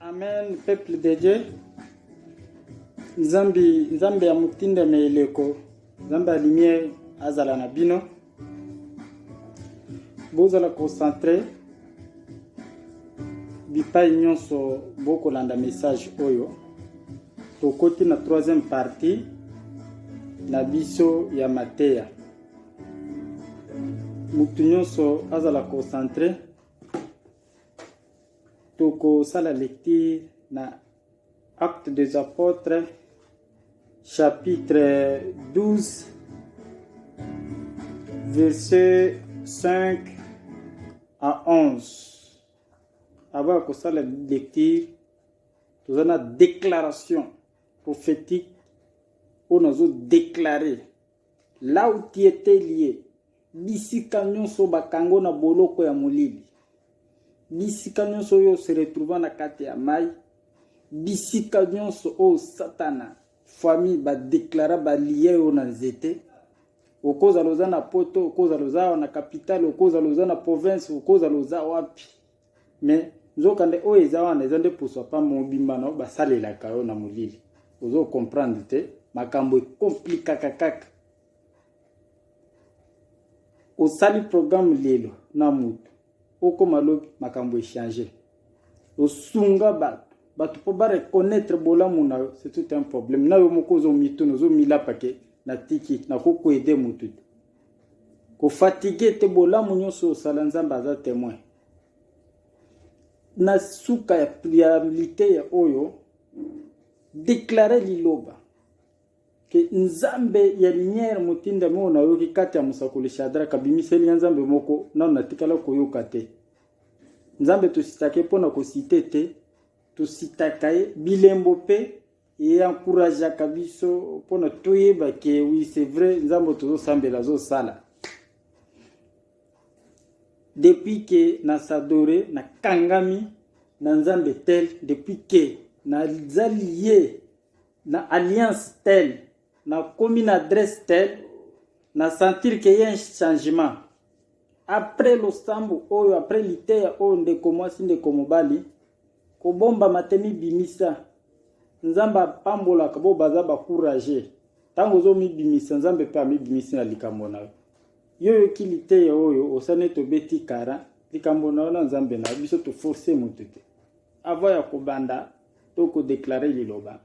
Amen, peuple de Dieu. Nzambi, Nzambi ya mutinda me eleko. Nzambi ya lumière azala na bino. Bozala concentré bipai nyonso bokolanda message oyo tokoti na troisième partie na biso ya mateya motu nyonso azala concentre tokosala lecture na Actes des Apôtres chapitre 12 verset 5 à 11 avant ya kosala lecture toza na déclaration prophétique oyo nazo déclare là où tu étais lié Bisika nyonso bakango na boloko ya molili, bisika nyonso oyo se retrouva na kati ya mai, bisika nyonso oyo satana famille badeklara balia yo na nzete okozala oza na poto okozala oza awa na kapitale okozala oza na province okozala oza wapi me nzokande oyo eza wana eza nde poso pa mobimba na yo basalelaka yo na molili ozo comprendre te makambo ekomplikaka kaka osali programme lelo na moto okoma lobi makambo echange osunga bato bato mpo bareconnaitre bolamu na yo c'est tout un problème na yo moko ozomituna ozomilapa ke natiki nakokoede motu te kofatigue te bolamu nyonso osala nzambe aza témoin na suka ya priabilite ya oyo deklare liloba Ke Nzambe ya lumière motindami oyo nayoki kati ya mosakoli Shadrach abimiseli ya Nzambe moko nano natikala koyoka te. Nzambe tositake mpo na kosite te, tositaka ye bilembo mpe ye encourageaka biso mpo na toyeba ke oui c'est vrai Nzambe tozosambela azosala. Depuis ke na sadore na kangami na Nzambe tel depuis ke nazali ye na alliance tel na komi na adresse tel na sentir ke ye changement après losambo oyo après liteya oyo ndeko mwasi ndeko mobali kobomba matemi bimisa nzambe apambolaka bo baza bacourage ntango ozomibimisa nzambe mpe amibimisi na likambo na yo yo oyoki liteya oyo osani ete obeti kara likambo na yo na nzambe na yo biso toforce moto te avant ya kobanda to ko declarer liloba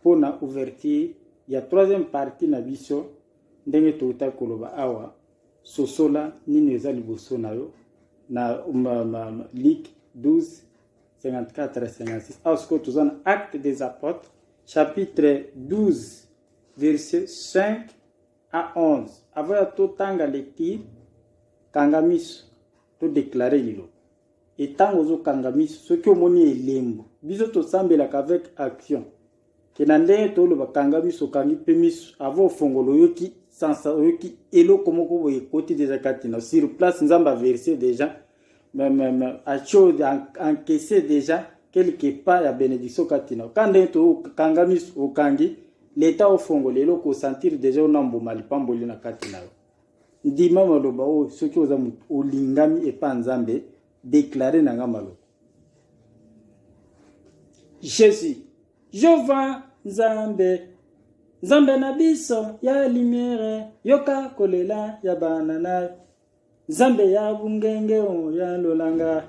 mpo na ouverture ya troisième partie na biso ndenge touta koloba awa sosola nini eza liboso na yo na ma, ma, ma, lik 12 54 56 awa sikoyo toza na acte des apôtres chapitre 12 verset 5 à 11 avant ya totanga lecture kanga miso To declare liloba. Et tango ozo kanga miso soki omoni elembo. Biso tosambelaka avec action. Ke na ndenge toloba kanga miso kangi pe miso avant ofongolo oyoki sansa oyoki eloko moko boye ekoti deja kati na sur place nzambe averse deja acho encaisse deja quelque part ya benediction kati na ka ndenge tokanga miso okangi leta ofongola eloko osentir deja ona mbuma lipamboli na kati na yo ndima maloba oyo soki oza moto olingami epa nzambe deklare na nga maloba jésus jova nzambe nzambe na biso ya limiere yoka kolela ya bana na nzambe ya bungenge oyo ya lolanga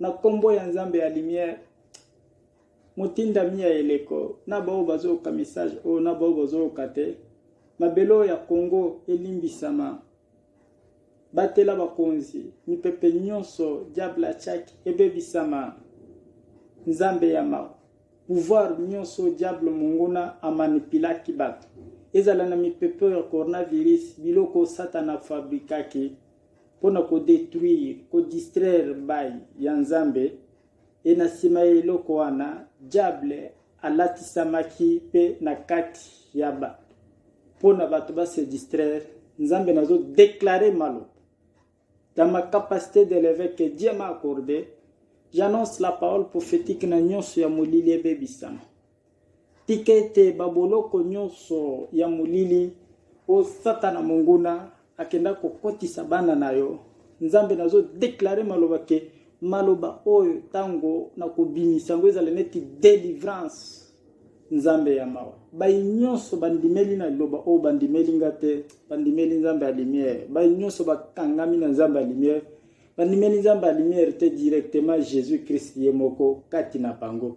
Na kombo ya Nzambe ya lumière, motindami ya eleko na baoyo bazoyoka message oyo na baoyo bazoyoka te, mabele oyo ya Congo elimbisama. Batela bakonzi, mipepe nyonso diable achaki ebebisama. Nzambe ya mawa, pouvoir nyonso diable monguna amanipilaki bato, ezala na mipepe oyo ya coronavirus, biloko satana afabrikaki mpo na kodetruire kodistraire bayi ya Nzambe, e na nsima ya eloko wana Diable alatisamaki mpe na kati ya bato mpo na bato ba se distraire. Nzambe nazo declare maloba dans ma capacité de l'évêque que Dieu m'a accordé, j'annonce la parole prophétique na nyonso ya molili ebebisama. Tika ete baboloko nyonso ya molili oyo Satana monguna akenda kokotisa bana na yo, Nzambe, nazo declare maloba ke maloba oyo ntango na kobimisa yango ezala neti delivrance. Nzambe ya mawa, bayi nyonso bandimeli na liloba oyo bandimeli nga te, bandimeli Nzambe ya lumière. Bayi nyonso bakangami na Nzambe ya lumière, bandimeli Nzambe ya lumière te directement Jésus-Christ ye moko kati na bango.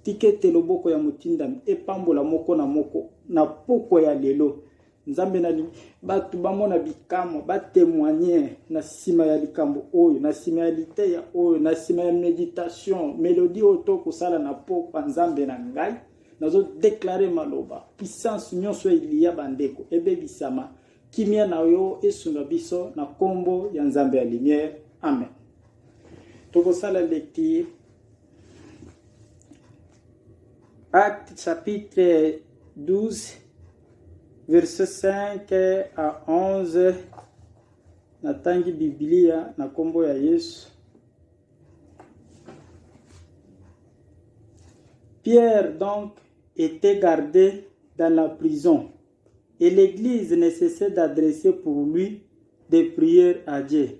Tika ete loboko ya motindami epambola moko na moko na pokwa ya lelo. Nzambe na bato bamona bikamwa, batemoigne na nsima ya likambo oyo, na nsima ya liteya oyo, na nsima ya meditation, melodi oyo to kosala na pokwa. Nzambe na ngai, nazodeklare maloba, puissance nyonso ya eliya bandeko ebebisama. Kimia na yo esunga biso na nkombo ya Nzambe ya lumière. Amen. Tokosala lecture Acte chapitre 12 verset 5 à 11 natangi Biblia na kombo ya Yesu. Pierre donc était gardé dans la prison et l'Église ne cessait d'adresser pour lui des prières à Dieu.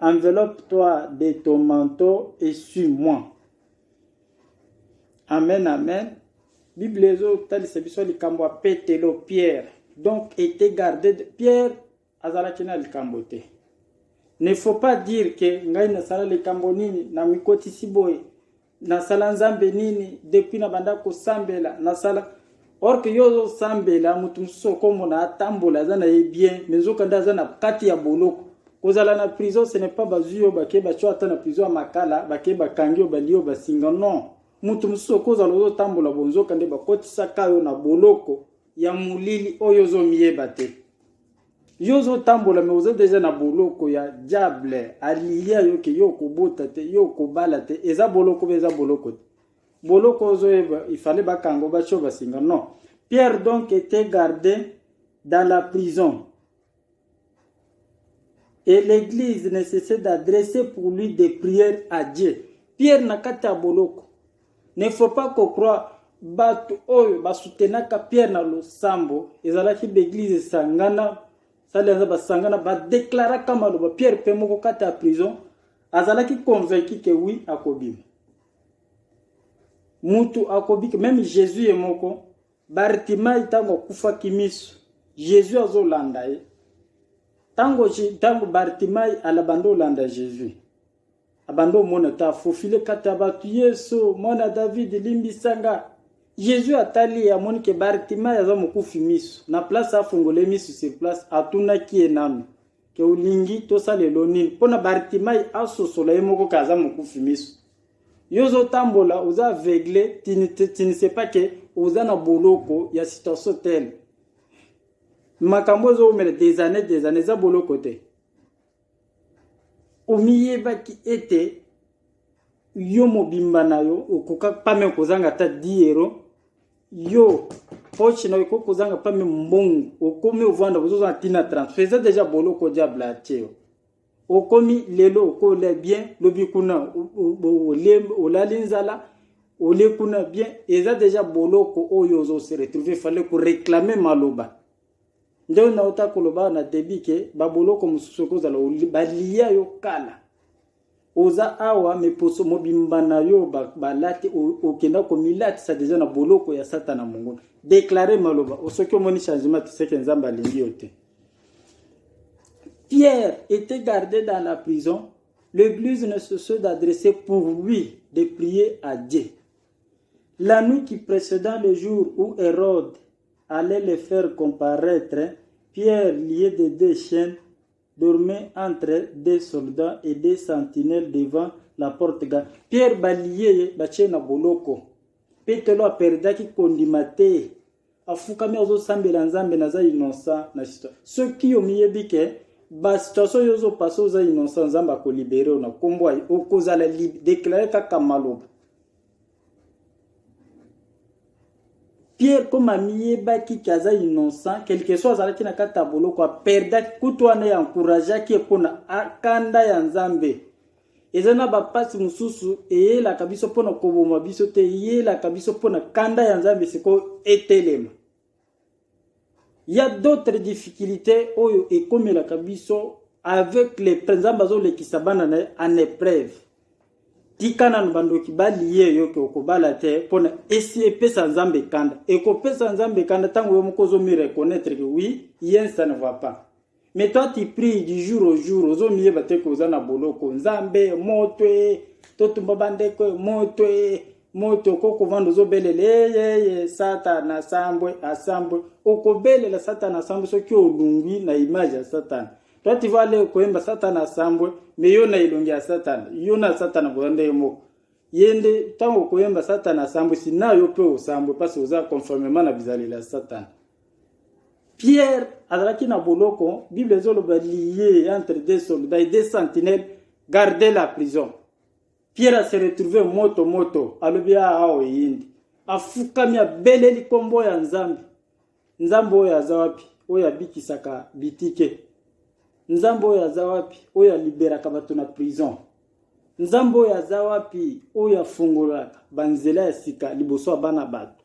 Enveloppe-toi de ton manteau et suis-moi. Amen, amen. Bible ezotalisa biso likambo ya Petelo, Pierre. Donc, était gardé de Pierre azalaki na likambo te. Ne faut pas dire que ngai nasala likambo nini na mikotisi boye. nasala nzambe nini depuis nabanda kosambela nasala or ke yo ozosambela moto mosusu okomona atambola aza na ye bien me nzokande aza na kati ya boloko kozala na prison ce n'est pas bazwi yo bake batyo ata na prison ya makala bake bakangi yo balie yo basinga non moto mosusu okozala ozotambola bonzoka nde bakotisaka yo na boloko ya molili oyo ozomiyeba te yo ozotambola me oza deja na boloko ya diable alilia yo ke yo okobota te yo okobala te eza boloko be eza boloko te boloko ozoyeba ifale bakango batyo basinga non pierre donc était gardé dans la prison et l'église ne cessait d'adresser pour lui des prières à dieu pierre na kati ya boloko Ne faut pas ko croire bato oyo basutenaka Pierre na losambo ezalaki baeglize esangana sali aza basangana badeklaraka maloba Pierre mpe moko kati ya prison azalaki convaincu ke wi akobima mutu akobiki meme Jésus ye moko Bartimai ntango akufaki miso Jésus azolanda ye ntango ntango Bartimai alabanda olanda Jésus abanda omona ta fofile kati ya bato yesu mwana david limbisa nga yezu atali ye amoni ke bartimai aza mokufi miso na place afungole miso sur place atunaki ye nano ke olingi tosalelo nini mpo na bartimai asosola ye moko ke aza mokufi miso yo ozotambola oza aveugle tinise pa ke oza na boloko ya situation tele makambo ezowumela des années des années eza boloko te omiyebaki ete yo mobimba na yo okoka pame kozanga ata 10 euro yo poche na yo ekoki kozanga pame mbongo okomi ovanda kozozanga ntina transfert eza deja boloko diable atie yo okomi lelo okola bien lobi kuna olali nzala ole kuna bien eza deja boloko oyo ozo se retrouver fale koreclame maloba nde nauta koloba na debi ke baboloko mosusu ekozala baliya yo kala oza awa miposo mobimba na yo balati okenda komilatisa deja na boloko ya satana mongo deklare maloba osoki omoni changement tiseke nzambe alingi yo te pierre était gardé dans la prison l'église ne se soit d'adresser pour lui de prier à dieu la nuit qui précédant le jour où hérode Allez le faire comparaitre, Pierre lié de deux chiens dormait entre deux soldats et deux sentinelles devant la porte ga. Pierre balie ye batie na boloko. Petelo aperdaki kondima te. Afukami azosambela Nzambe naza innocent na histoire. Soki omiyebi ke ba situation yo ozopasa oza innocent Nzambe akolibere yo na nkombo okozala deklare kaka maloba. Pierre comme amiyebaki ki aza innocent quelque soit azalaki na kati ya boloko aperdaki kutu wana ya encourageaki ye mpo na akanda ya nzambe eza na bapasi mosusu eyelaka biso mpo na koboma biso te eyelaka biso mpo na kanda ya nzambe sikoyo etelema Il y a d'autres difficultés oyo ekomelaka biso avec les présents bazo lekisa bana na en épreuve. Tika nanu bandoki baliye yo ke okobala te pona esi epesa Nzambe kanda. Ekopesa Nzambe kanda tango yo moko ozo mi reconnaître que oui, rien ça ne va pas. mais toi tu prie du jour au jour ozomiyeba te ke oza na boloko nzambe moto e totumba bandeko e moto e moto okoki kovanda ozobelela eyeye satana asambwe asambwe okobelela satana asambwe soki olungwi na image ya satana toi tu vas aller koyemba satana asambwe me yo na elongi ya satana yo na satana boza ndenge moko ye nde ntango okoyemba satana asambwisi na yo mpe osambwe mpasi oza conformement na bizalela ya satana Pierre azalaki na boloko, Bible ezoloba lié entre deux soldats et deux sentinelles garder la prison. Pierre a se retrouvé moto moto, alobi ah, awa eyindi, afukami abeleli nkombo ya Nzambe. Nzambe oyo aza wapi? Oyo abikisaka bitike. Nzambe oyo aza wapi? Oyo aliberaka bato na prison. Nzambe oyo aza wapi? Oyo afungolaka banzela ya sika liboso ya bana bato.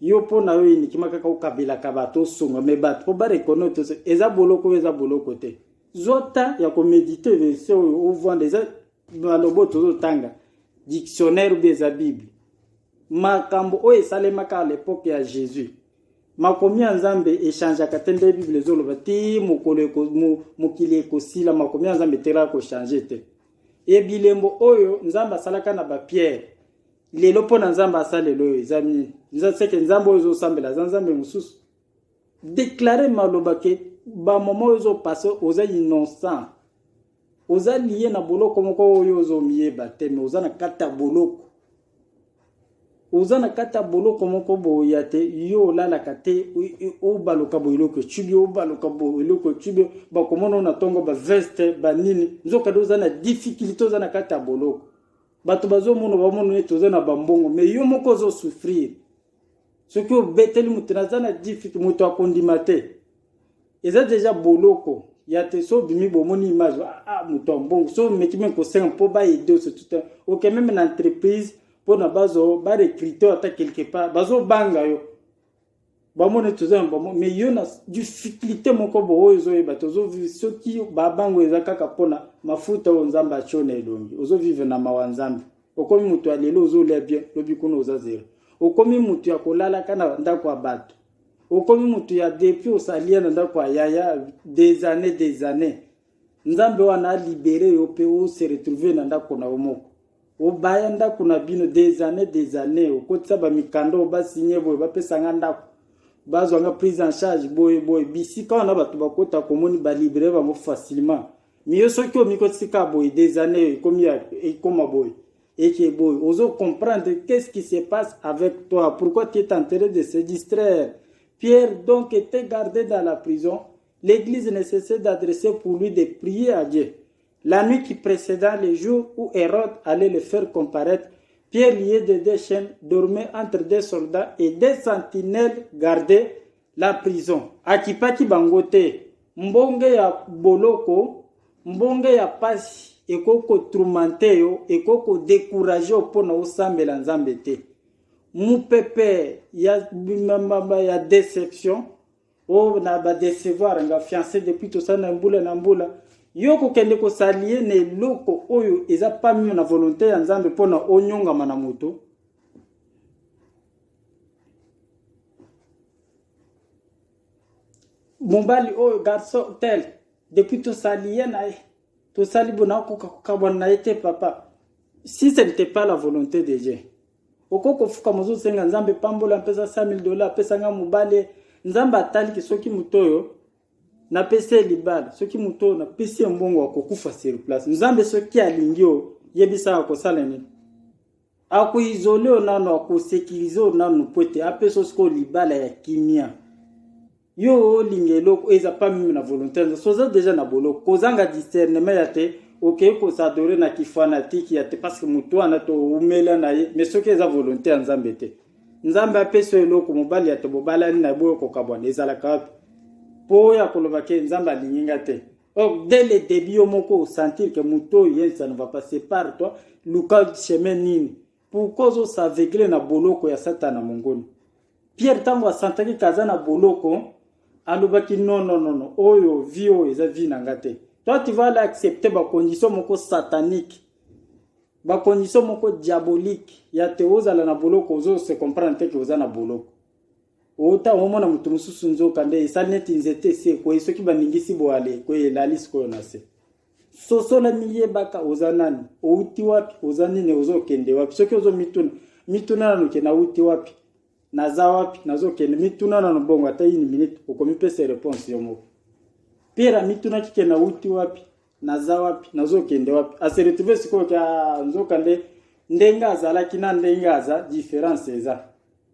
yo mpo na yo inikima kaka okabelaka bato osonga me bato mpo barekono to eza boloko oyo eza boloko te zwa ta ya komedite verse oyo ovanda eza maloba oyo tozotanga dictionnaire obi eza bible makambo oyo esalemaka a lepoke ya jésus makomi ya nzambe echangeaka te nde bible ezoloba ti mokolo mokili ekosila makomi ya nzambe etelaka kochange te ebilembo oyo nzambe asalaka na bapierre lelo mpo na nzambe asala lelo oyo eza nini eza seke nzambe oyo ezosambela aza nzambe mosusu deklare maloba ke bamoma oyo ezopase oza innocent oza liye na boloko moko oyo ozomiyeba te me oza na kati ya boloko oza na kati ya boloko moko boya te yo olalaka te obaluka boeloko ecubi obaluka boeloko ecubi bakomona na ntongo baveste banini nzokande oza na difficulté oza na kati ya boloko bato bazomono bamono neti oza na bambongo me yo moko ozo souffrir soki obeteli moto naza na difiki moto akondima te eza deja boloko ya te so obimi bomoni image ah, ah moto ya mbongo so omeki meme kosenga mpo baede oso tuta oke meme na entreprise mpona bazo barecrute ata quelque part bazobanga yo bamona ete toza na bamo mais yo na difficulté moko boye ozoyeba tozovive soki babango eza kaka mpona mafuta oyo nzambe atyo na elongi ozovive na mawa nzambe okomi moto ya lelo ozolia bien lobi kuna oza zero okomi moto ya kolalaka na ndako ya bato okomi moto ya depuis osalia na ndako ya yaya des années des années nzambe wana a libere yo mpe o se retrouver na ndako na yo moko obaya ndako na bino des années des années okotisa bamikanda oyo basigne boye bapesa nga ndako bazwa nga prise en charge boye boye bisika wana bato bakota komoni balibere bango facilement miyo soki omikotisi ka boye des années ekomi ekoma boye eke boye ozo comprendre qu'est-ce qui se passe avec toi pourquoi tu es en train de se distraire pierre donc te garder dans la prison L'Eglise ne cessait d'adresser pour lui des prières à Dieu. La nuit qui précéda le jour où Hérode allait le faire comparaître, Pierre lié de deux chaînes dormait entre deux soldats et deux sentinelles gardaient la prison. Akipaki bango te. Mbonge ya boloko, mbonge ya pasi ekoki kotourmente yo, ekoki kodécourage yo mpo na osambela Nzambe te. Mopepe ya, ya déception Oh, na ba decevoir nga fiancé depuis tosala na mbula na mbula yo kokende kosalie na eloko oyo eza pamio na volonté ya nzambe mpo na onyongama na moto mobali oyo garçon tel depuis tosali ye na ye tosali bona okoka kokabwana na ye te papa si ce n'était pas la volonté de dieu Oko kofuka mozo senga nzambe pambola mpeza 5000 dollars pesa nga mobale nzambe ataliki soki moto oyo napesi ye libala soki moto oyo napesi ye mbongo akokufa sur place nzambe soki alingi oyo yebisa akosala nini akoizole oyo nano akosekirize oyo nano mpo ete apesa osikoyo libala ya kimia yo olinga eloko eza pas mimi na volonté na soza deja na boloko kozanga discernement ya te okei kosadore na kifanatiki ya te parce que motu wana toumela na ye mais soki eza volonté ya nzambe te nzambe apesi yo eloko mobali ya te bobalani na ye boyo kokabwana ezalaka wapi mpo oyo akoloba ke nzambe alingi nga te or dès le début yo moko osentir ke motu oyo yensa ne va pas sépare toi luka chemin nini Pourquoi ozo s'aveugler na boloko ya satana mongoni? Pierre ntango asantaki kaza na boloko alobaki non non non non oyo vie oyo eza vie na nga te. Toi tu vas aller accepter ba conditions moko satanique. Ba conditions moko diabolique ya te ozala na boloko ozo se comprendre te que oza na boloko. Ota omona moto mosusu nzoka nde esali neti nzete se koye soki baningisi boale koye elali sikoyo na se. sosola miyebaka oza nani outi wapi oza nini ozokende wapi soki ozomituna mituna nano ke nauti wapi naza wapi nazokende mituna nano bongo ata ini minute okomipesa reponse yo moko pera mitunaki ke nauti wapi naza wapi nazokende wapi aseretrouve sikoyo ka nzoka nde ndenge azalaki na ndenge aza difference eza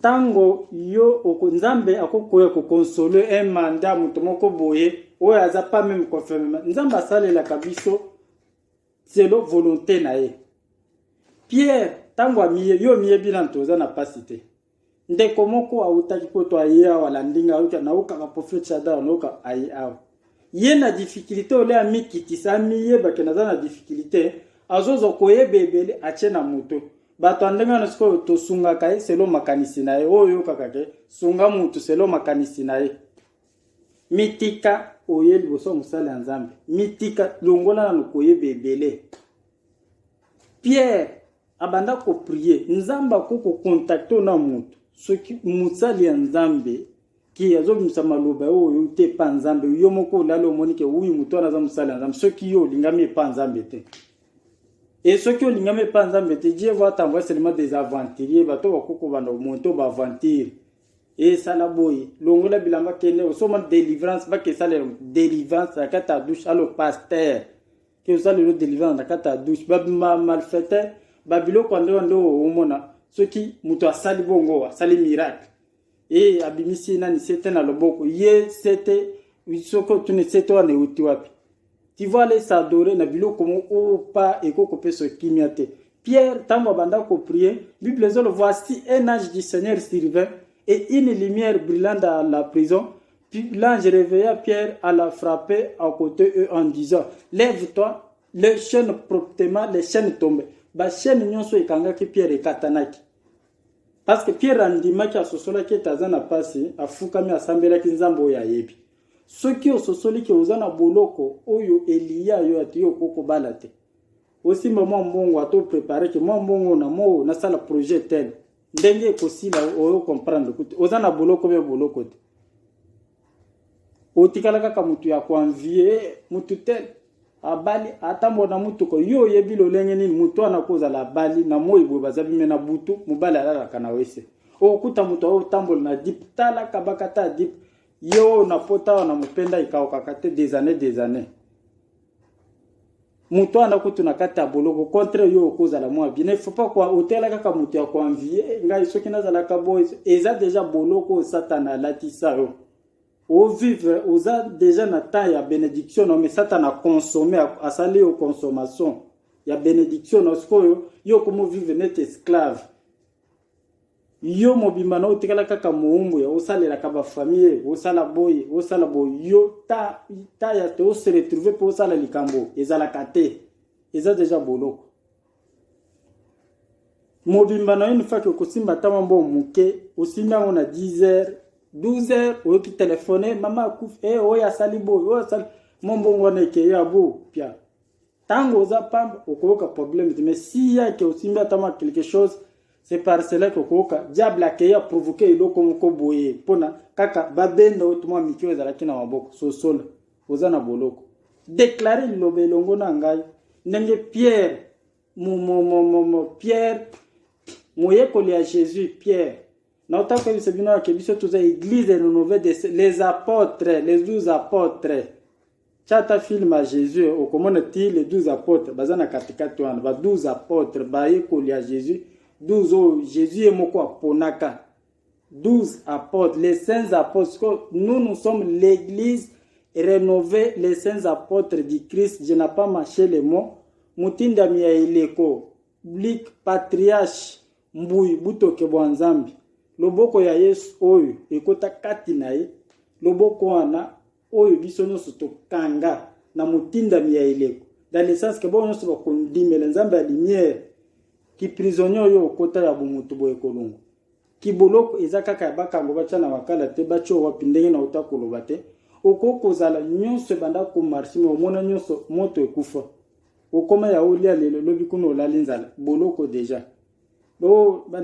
Tango yo oko nzambe ako koya ko console un mandat moto moko boye oyo aza pas même confirme nzambe asalelaka biso selon volonté na ye pierre ntango amiye yo omiyebi nano toza na mpasi te ndeko moko awutaki poto aye awa alandi ngai awuti naokaka prophète shadar naoka aye awa ye na difficulté ole amikitisa amiyebake naza na difficulté azozwa koyeba ebele atie na moto bato ya ndenge wana sikoyo tosungaka ye selo makanisi na ye oyo oyokaka ke sunga motu selo makanisi na ye mitika oye liboso ya mosali ya nzambe mitika longola nano koyeba ebele pierre abanda koprie nzambe akoki kokontakte na motu soki mosali ya nzambe Ki azobimisa maloba oyo oyoki te epa Nzambe, yo moko olali omoni ke uyu moto wana aza mosali ya Nzambe, soki yo olingami epa Nzambe te. Et soki olingami epa Nzambe te, Dieu va t'envoyer seulement des aventuriers, bato bakoki kobanda komonte ba aventure esala boye longola bilamba kende osoma delivrance bakesalela delivrance na kati ya douche alo paster ke osalelo delivrance na kati ya douche bamalfaiteur babiloko ya ndewa nde omona soki moto asali bongo asali miracle Ee, abimisi nani sete na loboko. Ye sete, soki otuni sete wana euti wapi? Tu vas aller s'adorer na biloko mo oyo pa eko kopesa kimia te. Pierre, ntango abanda ko prier, Bible ezolo voici un ange du Seigneur survint et une lumière brilla dans la prison. Puis l'ange réveilla Pierre à la frapper à côté eux en disant, lève-toi, les chaînes promptement, les chaînes tombées. Ba chaînes nyonso ekangaki Pierre ekatanaki. Parce que Pierre andimaki asosolaki ete aza na pasi, afukami asambelaki Nzambe oyo ayebi. Soki ososoli ke oza na boloko oyo eliya yo ati yo okoki kobala te, osimba mwa mbongo ato prepare ke mwa mbongo na moo nasala projet tel ndenge ekosila oyo comprendre kuti oza na boloko mpe boloko te otikala kaka motu ya koanvie motu te abali atambola na motuka yo oyebi lolenge nini motu wana kozala abali na moi boye baza bime na butu mobali alalaka na wese okuta moto oyo otambola na dip tala kabaka ta dip yo na pota wana mopenda ekaokaka te des années des années moto wana kutu na kati ya boloko contre yo okozala mwa bien faut pas kwa otela kaka moto ya koanvie eh, ngai soki nazalaka boye eza deja boloko oyo satana alatisa yo ovivre oza deja na temps ya benediction na yo mais satana aconsomme asali yo consommation ya benediction na sikoyo yo okomovivre neti esclave yo mobimba na otikala kaka moumbu ya osalelaka bafamille osala boye osala boye yo ta, ta ya te ose retrouve mpe osala likambo ezalaka te eza deja boloko mobimba na yo nifaki okosimba ntama mbo moke osimbi yango na 10 heures 12 heures oyoki telefone mama akufi e eh, oyo asali boye oyo asali mombongo wana ekeyo ya bo pia Tango oza pamba okoyoka problème te mais si yake osimbi ata mwa quelque chose c'est par cela que okoyoka diable akei aprovoke eloko moko boye mpona kaka babenda oyo tuma mike oyo ezalaki na maboko sosola oza na boloko deklare liloba elongo na ngai ndenge pierre mo, mo, mo, mo, mo, pierre moyekoli ya jésus pierre naotaka koyebisa bino yake biso toza église renouvelle des les apôtres les douze apôtres Tya ata film ya Jesus, okomona ti les 12 apôtres baza na katikati wana, ba 12 apôtres bayekoli ya Jesus, 12 oyo Jesus ye moko aponaka. 12 apôtres, les saints apôtres. Nous, nous sommes l'église rénovée, les saints apôtres du Christ. Je n'ai pas mâché les mots. Mutindami ya eleko, blik patriarche, mbuyi butoke bwa nzambe loboko ya yesu oyo ekota kati na ye loboko wana oyo biso nyonso tokanga na motindami ya eleko dans le sens que bango nyonso bakondimela nzambe ya lumière kiprisonnier oyo okota ya bomoto boye kolongo kiboloko eza kaka ya bakango batya na makala te batya wapi ndenge na ota koloba te okoki kozala nyonso ebanda komarche me omona nyonso moto ekufa okoma ya olia lelo lobi kuna olali nzala boloko deja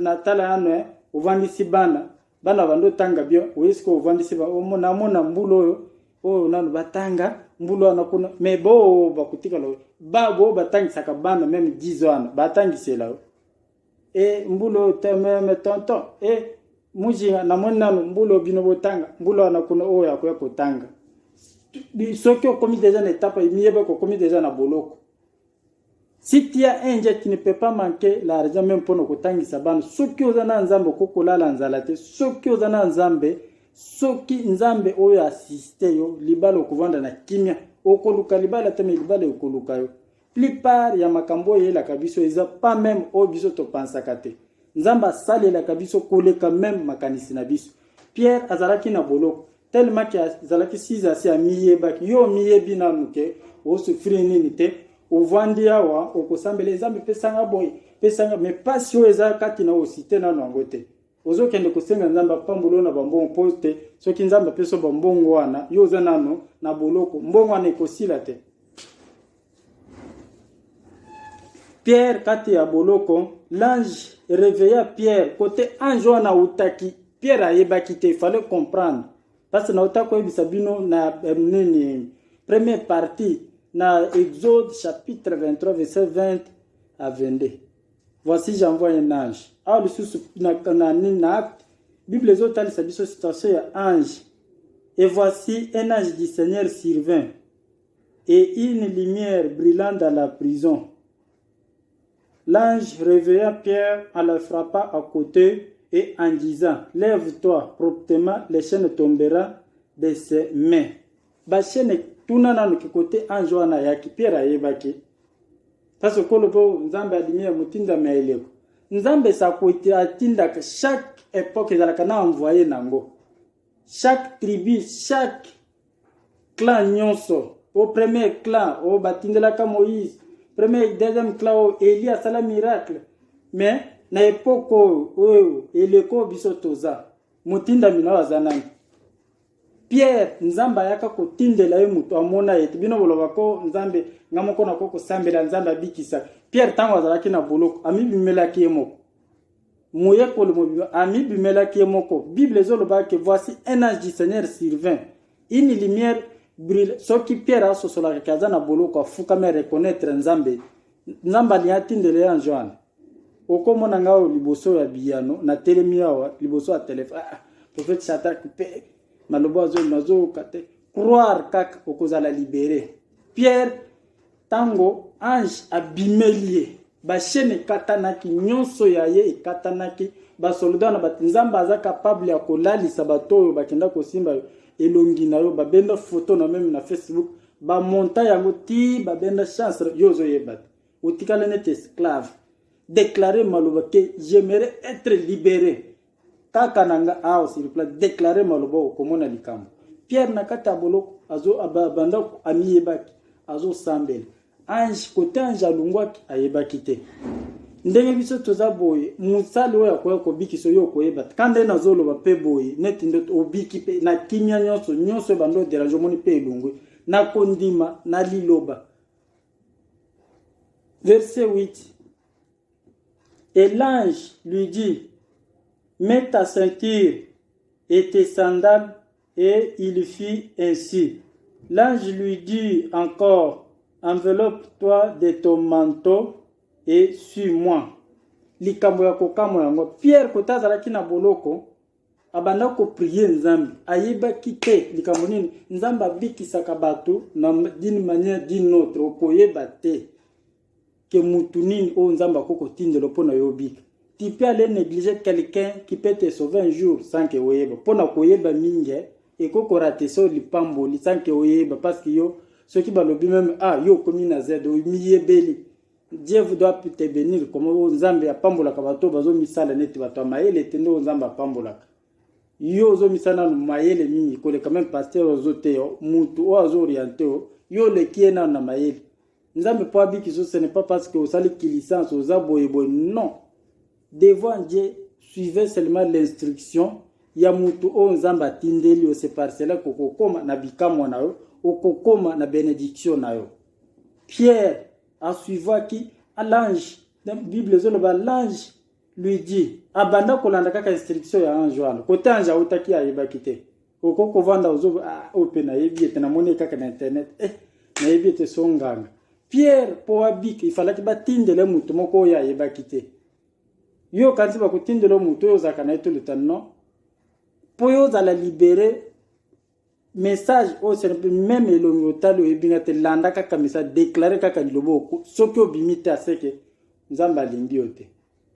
natala yano eh, ovandisi bana bana bando otanga bien oye sikoyo ovandisi namona mbula oyo oyo nano batanga mbula wana kuna me boo bakotikala babo batangisaka bana meme 10 wana batangisela yo e mbula oyo te meme tonton e mujinga namoni nano mbula bino botanga mbula wana kuna oyo akoya kotanga soki okomi deja na etape miyeba kokomi deja na boloko Si tu as un jet, tu ne peux pas manquer l'argent même pour nous kotangisa bana. Soki oza na nzambe okokolala nzala te, soki oza na nzambe, soki nzambe oyo assiste yo, libala okovanda na kimia. Okoluka libala te mais libala ekoluka yo. Plupart ya makambo oyo eyelaka biso eza pas même oyo biso topansaka te. Nzambe asalelaka biso koleka même makanisi na biso. Pierre azalaki na boloko. tellement que azalaki size asi amiyebaki yo omiyebi nanu ke osufri nini te ovandi awa okosambela ezambe pesanga boye pesanga me mpasi oyo eza kati na osite nano yango te ozokende kosenga nzambe apambolo na bambongo mpo te soki nzambe apeso bambongo wana yo oza nano na boloko mbongo wana ekosila te Pierre kati ya boloko, l'ange réveilla Pierre kote ange wana autaki. Pierre ayebaki te, il fallait comprendre. Parce que nauta koyebisa bino na eh, nini première partie na Exode chapitre 23 verset 20 à 22. Voici j'envoie un ange. Awa lisusu na, na, na acte Bible ezotalisa biso situation ya ange. Et voici un ange du Seigneur survint Et une lumière brillant dans la prison. L'ange réveilla Pierre en le frappant à côté et en disant, Lève-toi promptement, les chaînes tombera de ses mains. Ba chaînes tuna nanu ki kote ange wana ayaki Pierre ayebaki. Parce que kolo po Nzambe adimi ya motinda ma eleko. Nzambe sakwete atindaka chaque époque ezalaka na envoyé nango. Chaque tribu, chaque clan nyonso o premier clan oyo batindelaka moïse premier deuxième clan oyo eli asala miracle mais na epoke oyo oyo eleko oyo biso toza motindami na oyo aza nani pierre nzambe ayaka kotindela ye moto amona ye te bino boloba ko nzambe nga moko nako kosambela nzambe abikisa pierre ntango azalaki na boloko amibimelaki ye moko moyekoli mobimba amibimelaki ye moko bible ezolobaka ke voici un ange du seigneur survint une lumière brille soki pierre asosolaka ke aza na boloko afukami areconnaitre nzambe nzambe alingi atindela ye ange wana okomona ngai oyo liboso ya biyano natelemi awa liboso ya telefone ah, ah, prophète shadrack mpe maloba azo nazoyoka te croire kaka okozala libere pierre ntango ange abimeli ye Ba chaîne ekatanaki, nyonso ya ye ekatanaki. Ba soldat na bat Nzambe aza capable ya kolalisa bato oyo bakenda kosimba yo elongi na yo, babenda photo na meme na Facebook, ba monta yango ti babenda chance yo ozoyeba te, otikala neti esclave. Declare maloba ke j'aimerais être libere. kaka na nga awa sur place deklare maloba okomona likambo pierre na kati ya boloko abanda amiyebaki azosambela ange kote ange alungwaki ayebaki te ndenge biso toza boye mosali oyo akoya kobikisa oyo okoyeba ka nde nazoloba mpe boye neti nde obiki mpe na kimia nyonso nyonso ebanda oderange omoni mpe elongwi na kondima na liloba verse 8 Et l'ange lui dit, Mets ta ceinture et tes sandales, et il fit ainsi. L'ange lui dit encore, Enveloppe-toi de ton manteau et suis-moi. likambo ya kokamwa yango pierre kota azalaki na boloko abanda koprie nzambe ayebaki te likambo nini nzambe abikisaka bato na d'une manière d'une autre okoyeba te que mutu nini oyo nzambe akoki kotindelo mpo na yo obika tu peux aller négliger quelqu'un qui peut te sauver un jour sans que oyeba mpo na koyeba mingi eh, ekoki korate so lipamboli sans que oyeba parce que yo soki balobi meme ah yo okomi na z omiyebeli dieu vous doit te bénir comme oyo nzambe apambolaka bato bazomisala neti bato ya mayele te nde oyo nzambe apambolaka yo ozomisa nanu mayele mingi koleka meme paster ozoteya mutu oyo azooriente yo yo oleki ye nanu na mayele nzambe mpo abikisa ce n'est pas parce que osali kilisance oza boye boye non devant dieu suivez seulement l'instruction ya motu oyo nzambe atindeli yo se par cela kokokoma na bikamwa na yo okokoma na benediction na yo pierre asuivaki l'ange bible ezoloba l'ange Luigi abanda kolanda kaka instruction ya ange wana kote ange autaki ayebaki te okoki kovanda ozo oyo ah, oh, mpe nayebi ete namoni ye kaka na internet eh, nayebi ete so nganga pierre mpo abika ifalaki batindele moto moko oyo ayebaki te yo okanisi bakotindela moto oyo ozalaka na ye toleta non mpo yo ozala libere message oyo sere mpe meme elongi otali oyebi nga te landa kaka message deklare kaka liloba oku soki obimi te aseke nzambe alingi yo te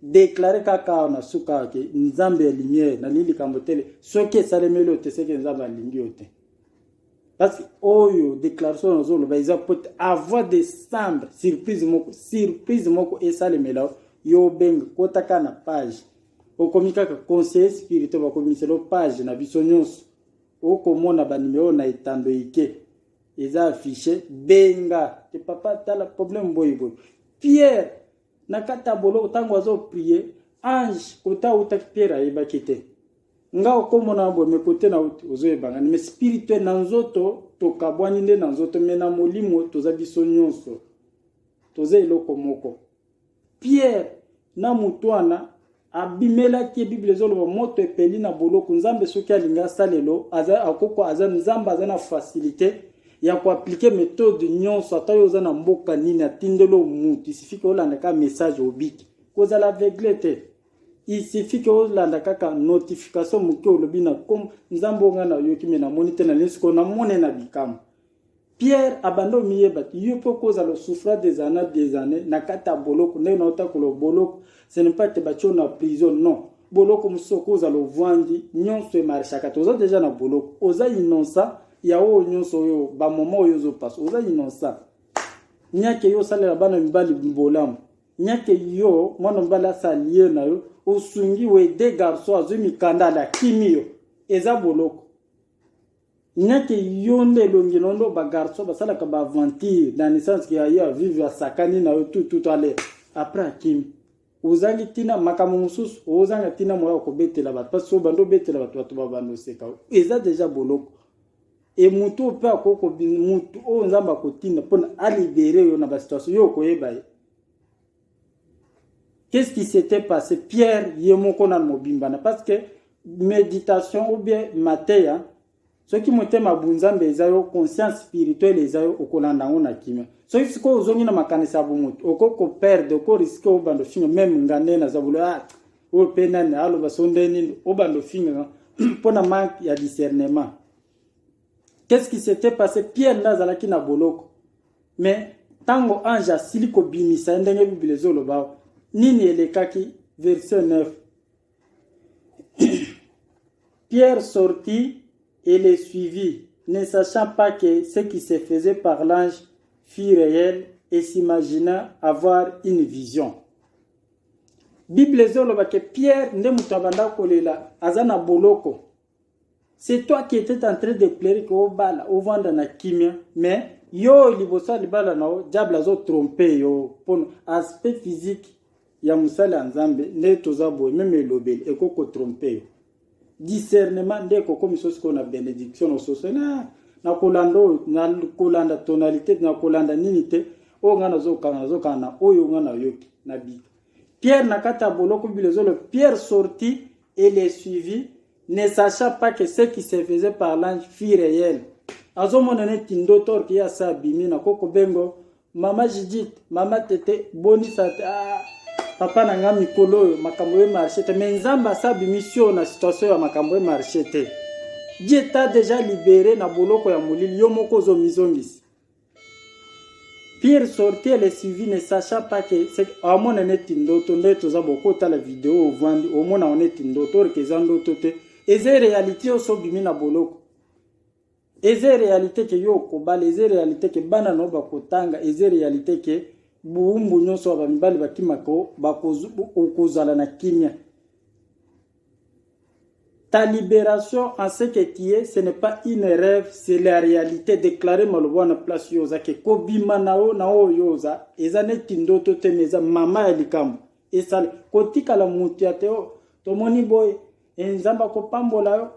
deklare kaka awa na suka awa ke nzambe ya lumiere nalingi likambo tele soki esalemeli oyo te seke nzambe alingi yo te parce oyo déclaration nazoloba eza mpo te avant décembre surprise moko surprise moko esalemela yo obenga kotaka na page okomi kaka conseiller spirituel bakomiselo page na biso nyonso oko mona ba numero na etando ike eza affiche benga te papa tala problème boye boye pierre na kati ya boloko ntango azo prie ange kote awutaki pierre ayebaki te nga okomona boye me kote na uti ozoyebangani me spirituel na nzoto tokabwani nde na nzoto me na molimo toza biso nyonso toza eloko moko Pierre na moto wana abimelaki ye biblia ezoloba moto epeli na boloko nzambe soki alingi asalelo aza akoko aza nzambe aza na facilité ya koaplike methode nyonso ata yo oza na mboka nini atindelo mutu isifike olanda kaka message obiki kozala aveugle te isifike olanda kaka notification moke olobi na kom nzambe onga nayoki me namoni te na nini sikoyo namone na bikamwa Pierre abanda omiyeba te yo mpe okozala osouffra des années des années na kati ya boloko ndenge na otakola boloko ce n'est pas te batio na prison non boloko mosusu okozala ovwandi nyonso emarchaka te oza deja na boloko oza innocent ya oyo nyonso oyo bamoma oyo ozopasa oza innocent nyake yo osalela bana mibali bolamu nyake yo mwana mobali asalie na yo osungi wede garçon azwi mikanda alakimi yo eza boloko Nake yo nde elongi na ndo ba garçon basalaka ba aventure dans le sens que ayo avive asakani na yo tout tout ale après akimi ozangi tina makambo mosusu ozanga tina moya okobetela bato mpasi oyo bando obetela bato bato babanda oseka eza deja boloko e motu oyo mpe akoki motu oyo nzambe akotinda mpona alibere yo na basituation yo okoyeba ye Qu'est-ce qui s'était passé? Pierre ye moko na mobimba na parce que meditation ou bien mateya soki motema bunzambe eza yo conscience spirituelle eza yo okolanda yango na kimia soki sikoyo ozongi na makanisi ya bomoto okoki koperde okoriske obanda ofinga meme nga nde naza bolo ah, oyo mpe nani aloba so nde nini obanda ofinga mpo na manque ya discernement qu'est ce qui s'était passé pierre nde azalaki na boloko me ntango ange asili kobimisa ye ndenge biblia ezoloba awa nini elekaki verse 9 pierre sortit et les suivit ne sachant pas que ce qui se faisait par l'ange fut réel et s'imagina avoir une vision bible ezoloba ke pierre nde moto abanda kolela aza na boloko C'est toi qui étais en train de pleurer que obala, ovanda na kimia, mais yo liboso libala na yo, diable azo tromper yo, pon aspect physique ya musala ya Nzambe nde toza boye, meme elobeli eko ko tromper yo. Discernement nde ekokomisa sikoyo na benediction na soso na na kolanda oyo na kolanda tonalité na kolanda nini te oyo ngai nazokanga nazokanga na oyo ngai nayoki na bika Pierre na kati ya boloko bilezolo Pierre sorti et les suivis ne sachant pas que ce qui se faisait par l'ange fut réel azomona neti ndoto orke ye asa abimi na koko bengo mama jidit mama tete bonisa te ah, papa na ngai mikolo oyo makambo ye marché te mais nzambe asa abimi sio na situation ya makambo ye marché te dieu ta deja libere na boloko ya molili yo moko ozomizongisa Pire sorti elle est suivie ne sachant pas que c'est amona neti ndoto nde toza boko tala video ovandi omona on neti ndoto orke eza ndoto te eza réalité oso bimi na boloko eza réalité ke yo okobala eza réalité ke bana no bakotanga eza réalité ke buumbu nyonso ya bamibali bakimaka okozala na kimia Ta liberation en ce que tu es, ce n'est pas une rêve, c'est la réalité. Déclarer maloba wana place yo oza ke kobima na yo na oyo oza eza neti ndoto te mais eza mama ya likambo esala kotikala moto ya teo tomoni boye e nzambe akopambola yo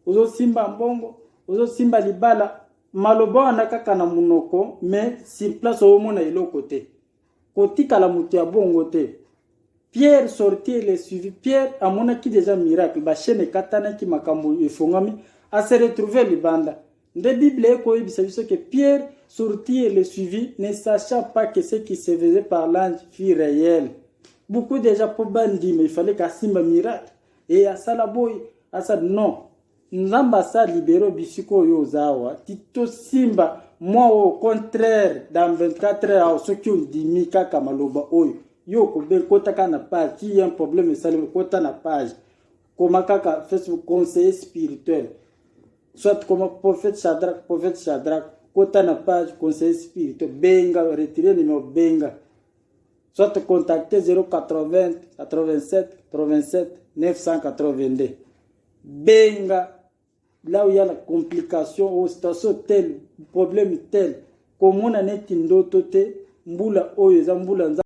ozosimba mbongo ozosimba libala maloba wana kaka na monoko mais sur place omona eloko te kotikala moto ya bongo te pierre sortir le suivi pierre amonaki deja miracle bashene ekatanaki makambo efongami ase retrouve libanda nde bible ekoyebisa biso ke pierre sortir le suivi ne sachant pas que ce qui se faisait par l'ange fut réel beaucoup deja mpo bandima ifale kasimba miracle e asala boye asala non Nzambe asa libero bisiko oyo oza awa titosimba mwa oyo contraire dans 24 heures awa soki ondimi kaka maloba oyo yo okobe kota kaka na page ti ye un problème esalemi kota na page koma kaka facebook conseiller spirituel soit koma prophète chadrak prophète chadrak kota na page conseiller spirituel benga retire numero benga soit contacte 080 87 87 982 benga là où il y a la complication au oh, station tel problème tel komona neti ndoto te mbula oyo eza mbula